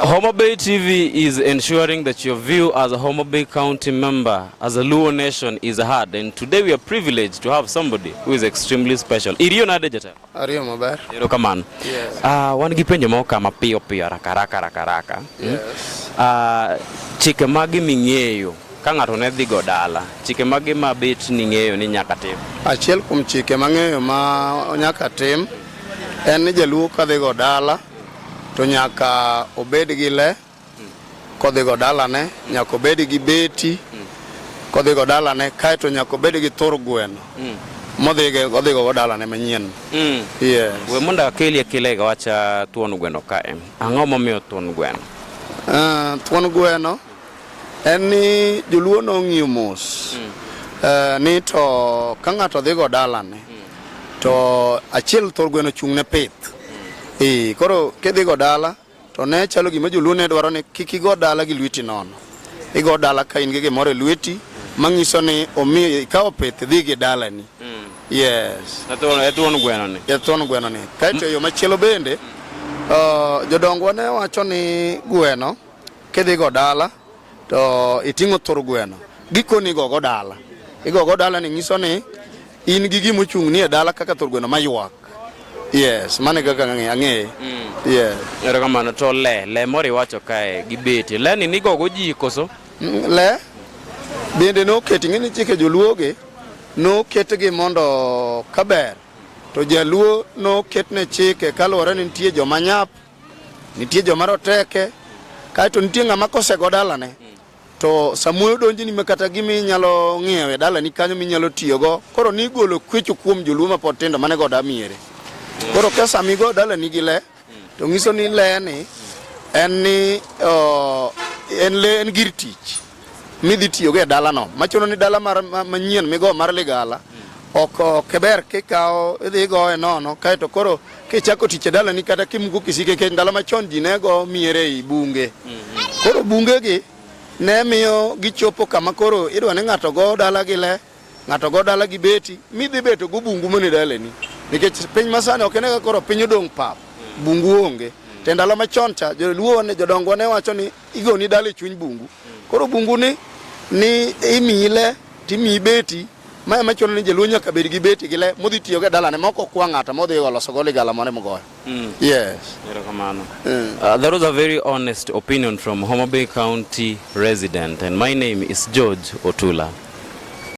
Homa Bay TV is ensuring that your view as a Homa Bay County member, as a Luo nation, is heard. And today we are privileged to have somebody who is extremely special. Iriyo na dejata? Ariyo maber. Ero kamano. Yes. Uh, wan gi penjo moko kama piyo piyo raka raka raka raka. Hmm? Yes. Hmm? Uh, chike magi ming'eyo ka ng'ato ne dhi go dala, chike magi ma bet ning'eyo ni nyaka tim? Achiel kuom chike mang'eyo ma nyaka tim en ni jaluo ka dhi go dala to nyaka obed gi le kodhigo dalane, nyaka obed gi beti kodhigo dalane, kaeto nyaka obed gi thur gweno mm. modhige odhigo go dalane manyien. Mm. Yes. We mondo akelie kilega wacha thuon gweno kae. Ang'o momiyo thuon gweno? Uh, thuon gweno En ni joluo nong'iyo mos mm. uh, ni to ka ng'ato dhigo dalane mm. to achiel thor gweno chung' ne pith mm. e, koro kidhigo dala to ne chalo gima joluo ne dwaro ni kik igo dala gi lweti nono igo dala ka in gi gimoro e lweti manyiso ni omi ikawo pith dhi gi dalani mm. yes e thuon gweno ni e thuon gweno ni kaeto e yo machielo bende mm. uh, jodongwa ne wacho ni gweno Kidhigo dala to iting'o thur gweno, gikoni igogo dala. Igogo dala ni nyiso ni in gi gima ochung' ni e dala kaka thur gweno mayuak. Yes, mane kaka ang'eye. Mm. Yeah. Erokamano to le, le moro iwacho kae gi beti. Le ni nigogo ji koso? Mm, le bende noketi ng'eni chike joluoge noketgi mondo kaber to jaluo noketne chike kaluwore ni nitie joma nyap Nitie joma roteke, kaeto nitie ng'ama kosego dalane to samoro donjini ma kata gima inyalo ng'iewo e dalani kanyo minyalo tiyogo koro nigolo kwecho kuom joluo ma pod tindo mane goda miere koro ka samigo dalani gi le to ng'iso ni le ni en ni en le en gir tich midhi tiyogo e dalano machuno ni dala manyien migo mar ligala ok ok ber kikawo idhi igoye nono kaeto koro kichako tich e dalani kata kimuko kisike kech ndalo machon ji ne go miere ei bunge mm-hmm. koro bungegi ne miyo gichopo kama koro idwa ni ng'ato go dalagi le Ng'ato go dala gi beti, midhi beto go bungu mone daleni. Nikech piny masani ok enega koro piny odong' pap, bungu onge. Te ndalo machon cha joluo ne jodongo ne wacho ni igoni dala e chuny bungu. Koro bungu ni ni imiyi le timiyi beti ma ema chuno ni jaluo nyaka bed gi beti gi le modhi tiyo go e dalane ma ok okwa ng'ato modhi oloso go ligala mare mogoyo. Mm. Yes. Erokamano. Mm. Uh, that was a very honest opinion from Homa Bay County resident and my name is George Otula.